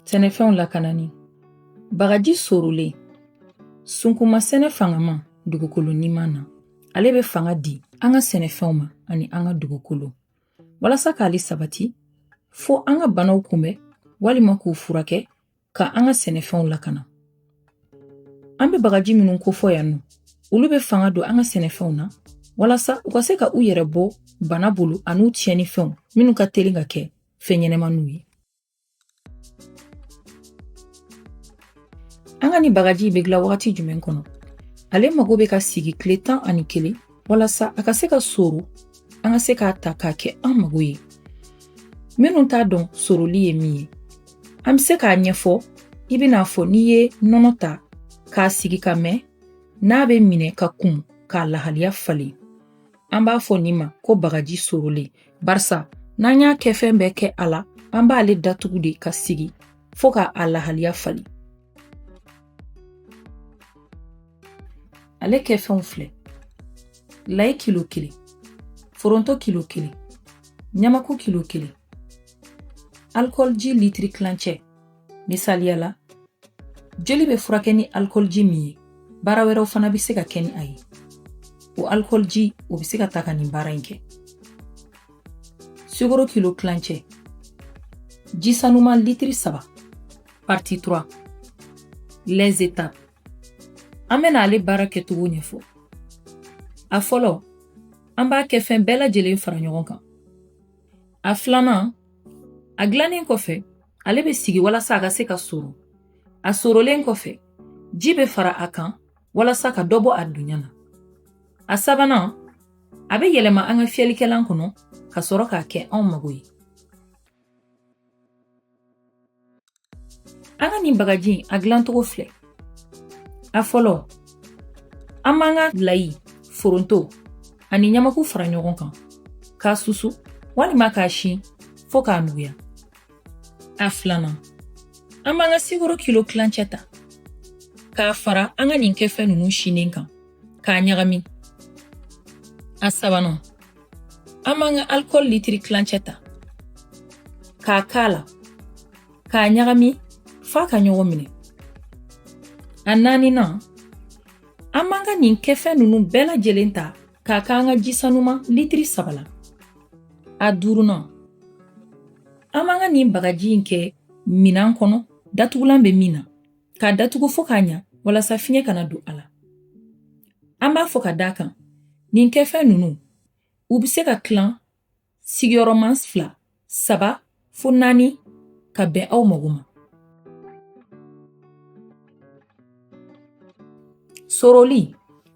Sɛnɛfɛnw lakanani bagaji sorolen sunkunma sɛnɛ fangama dugukolo niman na ale bɛ fanga di an ka sɛnɛfɛnw ma ani an ka dugukolo walasa k'ale sabati fo an ka banaw kunbɛn walima k'u furakɛ ka an ka sɛnɛfɛnw lakana an bɛ bagaji minnu kofɔ yan nɔ olu bɛ fanga don an ka sɛnɛfɛnw na walasa u ka se ka u yɛrɛ bɔ bana bolo an'u tiɲɛni fɛnw minnu ka teli ka kɛ fɛn ɲɛnamaniw ye an ka nin bagaji bɛ dilan wagati jumɛn kɔnɔ ale mago bɛ ka sigi tile tan ani kelen walasa a ka se ka soro an ka se k'a ta k'a kɛ an mago ye minnu t'a dɔn soroli ye min ye an bɛ se k'a ɲɛfɔ i bɛn'a fɔ n'i ye nɔnɔ ta k'a sigi ka mɛn n'a bɛ minɛ ka kun k'a lahaliya falen an b'a fɔ nin ma ko bagaji sorolen barisa n'an y'a kɛfɛn bɛɛ kɛ a la an b'ale datugu de k'a sigi fo ka a lahaliya falen ale kɛfɛnw filɛ layi kilo kelen foronto kilo kelen ɲamaku kilo kelen alikɔliji litiri tilancɛ misaliya la joli bɛ furakɛ ni alikɔliji min ye baara wɛrɛw fana bɛ se ka kɛ ni a ye o alikɔliji o bɛ se ka ta ka nin baara in kɛ sukaro kilo tilancɛ ji sanuman litiri saba Partie 3 Les étapes An bɛna ale baara kɛcogo ɲɛfɔ. A fɔlɔ, an b'a kɛfɛn bɛɛ lajɛlen fara ɲɔgɔn kan. A filanan, a dilannen kɔfɛ, ale bɛ sigi walasa a ka se ka soro. A sorolen kɔfɛ, ji bɛ fara a kan walasa ka dɔ bɔ a dunya na. A sabanan, a bɛ yɛlɛma an ka fiyɛlikɛlan kɔnɔ ka sɔrɔ k'a kɛ anw mago ye. An ka nin bagaji in a dilancogo filɛ a fɔlɔ an b'an ka layi foronto ani ɲamaku fara ɲɔgɔn kan k'a susu walima k'a si fo k'a nuguya a filanan an b'an ka sukaro kilo tilancɛ ta k'a fara an ka nin kɛfɛn ninnu sinen kan k'a ɲagami a sabanan An b'an ka alikɔli litiri tilancɛ ta k'a k'a la k'a ɲagami f'a ka ɲɔgɔn minɛ a naaninan an b'an ka nin kɛfɛn ninnu bɛɛ lajɛlen ta k'a k'an ka jisanuma litiri saba la a duurunan an b'an ka nin bagaji in kɛ minan kɔnɔ datugulan bɛ min na k'a datugu fo k'a ɲa walasa fiɲɛ kana don a la an b'a fɔ ka da a kan nin kɛfɛn nunu u be se ka tilan sigiyɔrɔman fila saba fo naani ka bɛn aw mago ma soroli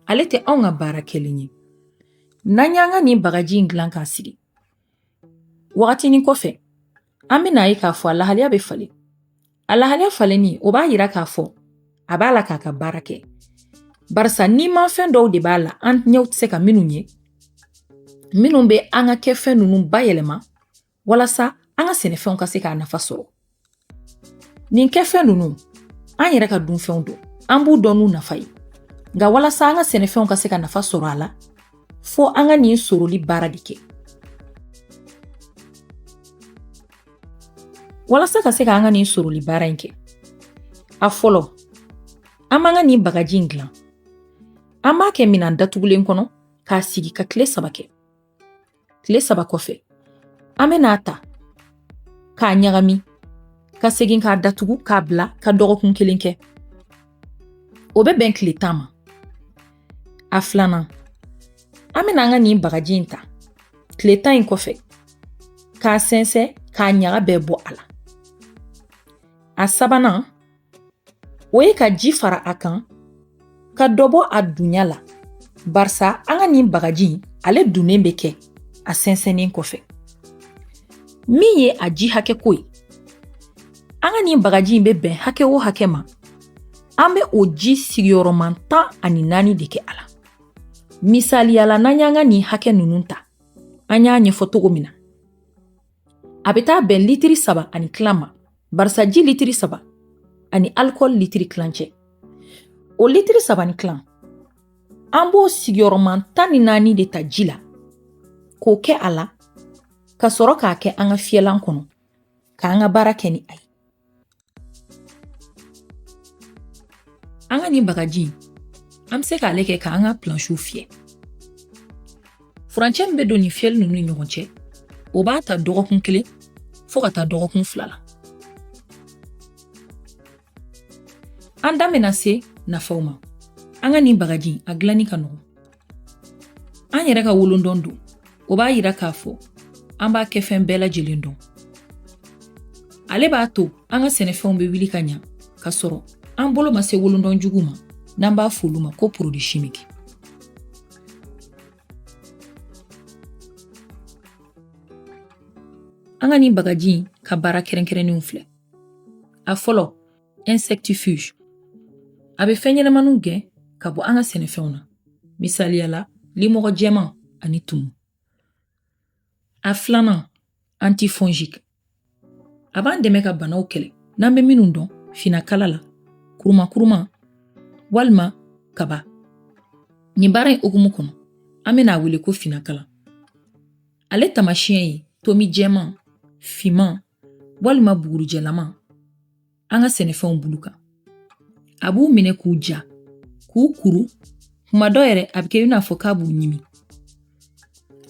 ale tɛ anw ka baara kɛlen ye n'an y'an ka nin bagaji in dilan k'a sigi wagatinin kɔfɛ An bɛna ye k'a fɔ a lahaliya bɛ falen a lahaliya falenni o b'a yira k'a fɔ a b'a la k'a ka baara kɛ barisa nimafɛn dɔw de b'a la an ɲɛw tɛ se ka minnu ye minnu bɛ an ka kɛfɛn ninnu bayɛlɛma walasa an ka sɛnɛfɛnw ka se k'a nafa sɔrɔ nin kɛfɛn ninnu an yɛrɛ ka dunfɛnw don an b'u dɔn n'u nafa ye nka walasa an ka sɛnɛfɛnw ka se ka nafa sɔrɔ a la fo an ka nin soroli baara de kɛ walasa ka se ka an ka nin soroli baara in kɛ a fɔlɔ an b'an ka nin bagaji in dilan an b'a kɛ minan datugulen kɔnɔ k'a sigi ka tile saba kɛ tile saba kɔfɛ an bɛ n'a ta k'a ɲagami ka segin k'a datugu k'a bila ka dɔgɔkun kelen kɛ o bɛ bɛn tile tan ma a filanan an bɛna an ka nin bagaji in ta tile tan in kɔfɛ k'a sɛnsɛn k'a ɲaga bɛɛ bɔ a la a sabanan o ye ka ji fara a kan ka dɔ bɔ a dunya la barisa an ka nin bagaji in ale dunnen bɛ kɛ a sɛnsɛnnen kɔfɛ min ye a ji hakɛ ko ye An ka nin bagaji in bɛ bɛn hakɛ o hakɛ ma an bɛ o ji sigiyɔrɔma tan ani naani de kɛ a la misaliya la n'an y'an ka nin hakɛ ninnu ta an y'a ɲɛfɔ cogo min na a bɛ taa bɛn litiri saba ani tila ma barisa ji litiri saba ani alikɔli litiri tilancɛ o litiri saba ni tila an b'o sigiyɔrɔma tan ni naani de ta ji la k'o kɛ a la ka sɔrɔ k'a kɛ an ka fiyɛlan kɔnɔ k'an ka baara kɛ ni a ye an ka nin bagaji an bɛ se k'ale kɛ k'an ka plansiw fiyɛ furancɛ min bɛ don nin fiyɛli ninnu ni ɲɔgɔn cɛ o b'a ta dɔgɔkun kelen fo ka taa dɔgɔkun fila la an da mɛna se nafaw ma an ka nin bagaji a dilanni ka nɔgɔ an yɛrɛ ka wolondɔn don o b'a yira k'a fɔ an b'a kɛfɛn bɛɛ lajɛlen dɔn ale b'a to an ka sɛnɛfɛnw bɛ wuli ka ɲa ka sɔrɔ an bolo ma se wolondɔn juguw ma n'an b'a f'olu ma ko produit chimique an ka nin bagaji ka baara kɛrɛnkɛrɛnnenw filɛ a fɔlɔ insectifuge a bɛ fɛn ɲɛnamaniw gɛn ka bɔ an ka sɛnɛfɛnw na misaliya la limɔgɔ jɛman ani tumu a filanan antifongique a b'an dɛmɛ ka banaw kɛlɛ n'an bɛ minnu dɔn finakala la kurumakuruma walima kaba nin baara in hukumu kɔnɔ an bɛna a wele ko finakala ale tamasiyɛn ye tomi jɛman fiman walima bugurijɛlama an ka sɛnɛfɛnw bulu kan a b'u minɛ k'u ja k'u kuru kuma dɔ yɛrɛ a bɛ kɛ i n'a fɔ k'a b'u ɲimi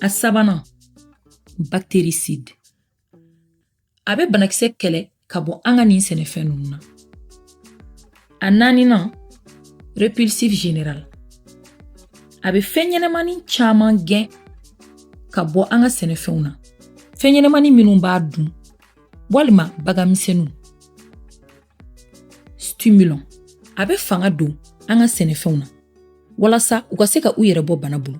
a sabanan bactéricide a bɛ banakisɛ kɛlɛ ka bɔ an ka nin sɛnɛfɛn ninnu na A naaninan répulsif général a bɛ fɛn ɲɛnamani caman gɛn ka bɔ an ka sɛnɛfɛnw na fɛn ɲɛnamani minnu b'a dun walima baganmisɛnninw stimulant a bɛ fanga don an ka sɛnɛfɛnw na walasa u ka se ka u yɛrɛ bɔ bana bolo